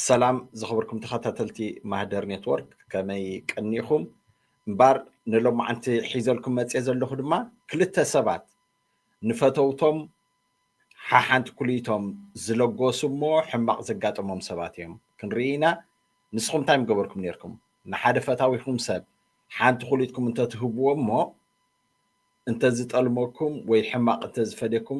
ሰላም ዝኸበርኩም ተኸታተልቲ ማህደር ኔትወርክ ከመይ ቀኒኹም እምበር ንሎማዓንቲ ሒዘልኩም መፅ ዘለኹ ድማ ክልተ ሰባት ንፈተውቶም ሓሓንቲ ኩልቶም ዝለጎሱ እሞ ሕማቕ ዘጋጠሞም ሰባት እዮም ክንርኢ ኢና ንስኹም እንታይ ምገበርኩም ነርኩም ንሓደ ፈታዊኹም ሰብ ሓንቲ ኩልትኩም እንተትህብዎ እሞ እንተዝጠልመኩም ወይ ሕማቕ እንተዝፈደኩም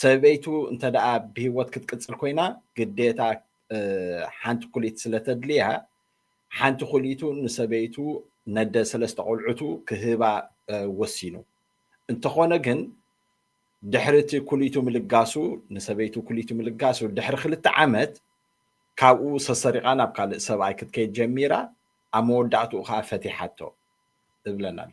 ሰበይቱ እንተድኣ ብሂወት ክትቅጽል ኮይና ግዴታ ሓንቲ ኩሊት ስለተድልያ ሓንቲ ኩሊቱ ንሰበይቱ ነደ ሰለስተ ቆልዑቱ ክህባ ወሲኑ። እንተኾነ ግን ድሕሪ እቲ ኩሊቱ ምልጋሱ ንሰበይቱ ኩሊቱ ምልጋሱ ድሕሪ ክልተ ዓመት ካብኡ ሰሰሪቓ ናብ ካልእ ሰብኣይ ክትከይድ ጀሚራ ኣብ መወዳእትኡ ከኣ ፈቲሓቶ እብለና ኣሎ።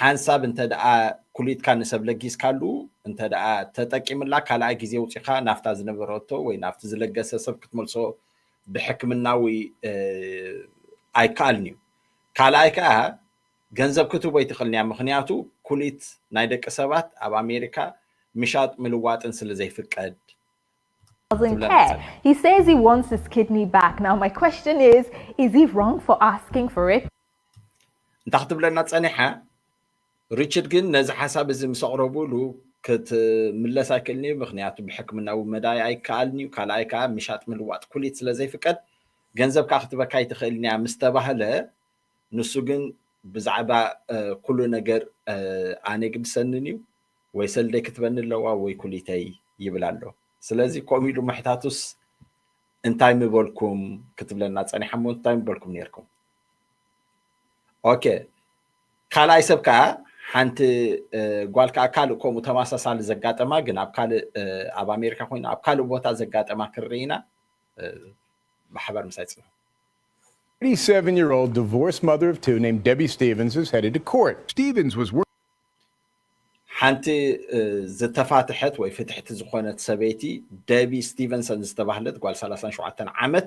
ሓንሳብ እንተድኣ ኩሊትካ ንሰብ ለጊስካሉ እንተድኣ ተጠቂምላ ካልኣይ ግዜ ውጺኻ ናፍታ ዝነበረቶ ወይ ናብቲ ዝለገሰ ሰብ ክትመልሶ ብሕክምናዊ ኣይከኣልን'ዩ። ካልኣይ ከኣ ገንዘብ ክትህቦ ኣይትኽእልን'ያ ምኽንያቱ ኩሊት ናይ ደቂ ሰባት ኣብ ኣሜሪካ ምሻጥ ምልዋጥን ስለዘይፍቀድ doesn't care. He says he wants his kidney back. Now my question is, is he wrong for asking for it? እንታ ክትብለና ፀኒሓ ሪችድ ግን ነዚ ሓሳብ እዚ ምስ ኣቕረቡሉ ክትምለስ ኣይክእልን እዩ ምክንያቱ ብሕክምናዊ መዳይ ኣይከኣልን እዩ ካልኣይ ከዓ ምሻጥ ምልዋጥ ኩሊት ስለ ዘይፍቀድ ገንዘብ ከዓ ክትበካ ኣይትኽእልን እያ ምስ ተባህለ ንሱ ግን ብዛዕባ ኩሉ ነገር ኣነ ግድሰንን እዩ ወይ ሰልደይ ክትበኒ ኣለዋ ወይ ኩሊተይ ይብል ኣሎ ስለዚ ከምኡ ኢሉ ምሕታቱስ እንታይ ምበልኩም ክትብለና ፀኒሓ ሞ እንታይ ምበልኩም ነርኩም ኦኬ ካልኣይ ሰብ ከዓ ሓንቲ ጓል ከዓ ካልእ ከምኡ ተመሳሳሊ ዘጋጠማ ግን ኣብ ካልእ ኣብ ኣሜሪካ ኮይኑ ኣብ ካልእ ቦታ ዘጋጠማ ክንርኢ ኢና ማሕበር ምሳይ ፅንሑ 87 year old divorced mother of two named Debbie Stevens is headed to court. Stevens was working. ሓንቲ ዝተፋትሐት ወይ ፍትሕቲ ዝኾነት ሰበይቲ ደቢ ስቲቨንሰን ዝተባህለት ጓል 37 ዓመት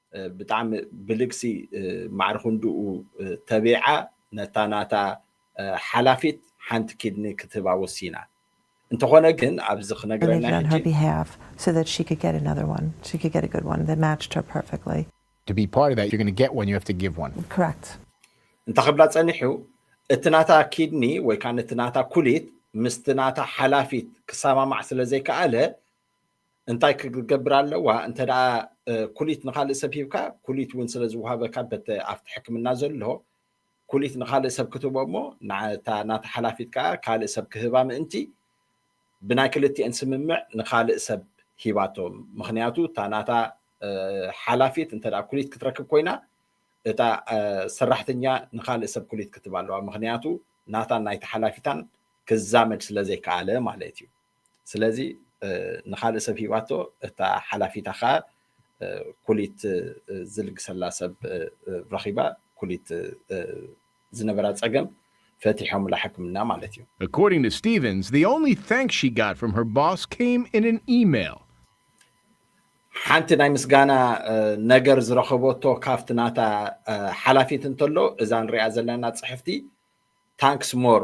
ብጣዕሚ ብልግሲ ማዕረ ክንድኡ ተቢዓ ነታ ናታ ሓላፊት ሓንቲ ኪድኒ ክትህባ ወሲና። እንተኾነ ግን ኣብዚ ክነግረና ሕጂ። እንተ ክብላ ጸኒሑ እቲ ናታ ኪድኒ ወይ ከኣ ነቲ ናታ ኩሊት ምስቲ ናታ ሓላፊት ክሰማማዕ ስለ ዘይከኣለ እንታይ ክትገብር ኣለዋ እንተ ኩሊት ንካልእ ሰብ ሂብካ ኩሊት እውን ስለዝወሃበካ በተ ኣብቲ ሕክምና ዘሎ ኩሊት ንካልእ ሰብ ክትቦ እሞ ናታ ናታ ሓላፊት ከዓ ካልእ ሰብ ክህባ ምእንቲ ብናይ ክልቲኤን ስምምዕ ንካልእ ሰብ ሂባቶ ምክንያቱ እታ ናታ ሓላፊት እንተ ኩሊት ክትረክብ ኮይና እታ ሰራሕተኛ ንካልእ ሰብ ኩሊት ክትባ ኣለዋ ምክንያቱ ናታን ናይቲ ሓላፊታን ክዛመድ ስለዘይከኣለ ማለት እዩ ስለዚ ንካልእ ሰብ ሂባቶ እታ ሓላፊታ ከኣ ኩሊት ዝልግሰላ ሰብ ረኺባ ኩሊት ዝነበራ ጸገም ፈቲሖምላ ሕክምና ማለት እዩ። According to Stevens, the only thanks she got from her boss came in an email. ሓንቲ ናይ ምስጋና ነገር ዝረኸበቶ ካብቲ ናታ ሓላፊት እንተሎ እዛ ንሪኣ ዘለና ጽሕፍቲ ታንክስ ሞር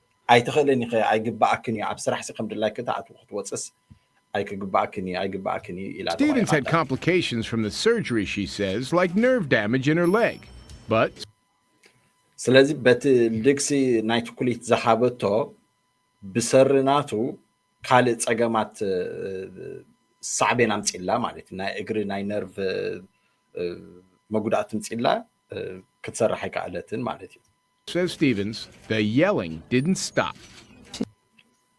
ኣይትኽእልን ኢኺ ኣይግብኣክን እዩ ኣብ ስራሕሲ ከም ድላይኪ ትኣትዊ ክትወፅስ ኣይክግብኣክን እዩ ኣይግብኣክን እዩ ኢላ Stevens had ተቆይቓታ። complications from the surgery, she says, like nerve damage in her leg. But, ስለዚ በቲ ልግሲ ናይቲ ኩሊት ዝሃበቶ ብሰሪ ናቱ ካልእ ፀገማት ሳዕቤን ኣምፂላ ማለት እዩ። ናይ እግሪ ናይ ነርቭ መጉዳእቲ ምፂላ ክትሰርሕ ኣይከኣለትን ማለት እዩ። Says Stevens, The yelling didn't stop.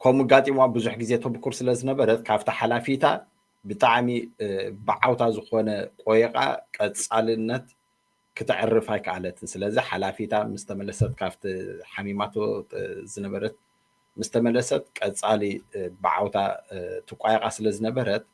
ከምኡ ኣጋጢምዋ ብዙሕ ግዜ ተብኩር ስለ ዝነበረት ካብቲ ሓላፊታ ብጣዕሚ ብዓውታ ዝኾነ ቆየቓ ቀጻልነት ክተዕርፍ ኣይከኣለትን። ስለዚ ሓላፊታ ምስ ተመለሰት ካብቲ ሓሚማቶ ዝነበረት ምስ ተመለሰት ቀጻሊ ብዓውታ ትቋየቓ ስለ ዝነበረት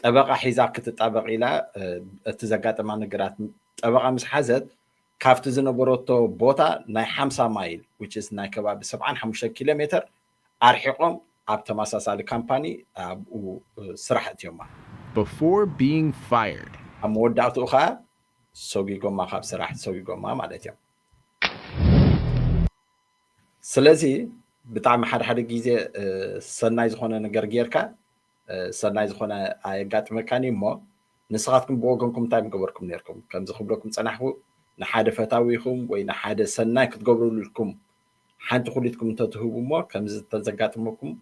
ጠበቓ ሒዛ ክትጣበቕ ኢላ እቲ ዘጋጠማ ነገራት ጠበቓ ምስ ሓዘት ካብቲ ዝነበረቶ ቦታ ናይ ሓምሳ ማይል which is ናይ ከባቢ ሰብዓን ሓሙሽተን ኪሎ ሜተር ኣርሒቖም ኣብ ተመሳሳሊ ካምፓኒ ኣብኡ ስራሕ እትዮማ። before being fired። ኣብ መወዳእትኡ ከኣ ሰጒጎማ ካብ ስራሕ ሰጒጎማ ማለት እዮም። ስለዚ ብጣዕሚ ሓደ ሓደ ግዜ ሰናይ ዝኾነ ነገር ጌርካ ሰናይ ዝኾነ ኣየጋጥመካን እዩ እሞ ንስኻትኩም ብወገንኩም እንታይ ምገበርኩም ነርኩም ከምዚ ክብለኩም ጸናሕኩ ንሓደ ፈታዊኹም ወይ ንሓደ ሰናይ ክትገብርልኩም ሓንቲ ኩሊትኩም እንተትህቡ እሞ ከምዚ ተዘጋጥመኩም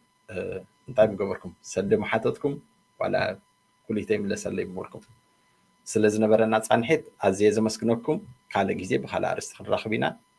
እንታይ ምገበርኩም ሰልዲ መሓተትኩም ዋላ ኩሊተይ ምለሰለይ ምበልኩም ስለ ዝነበረና ጻንሒት ኣዝየ ዘመስግነኩም ካልእ ግዜ ብካልእ ኣርእስቲ ክንራኽብ ኢና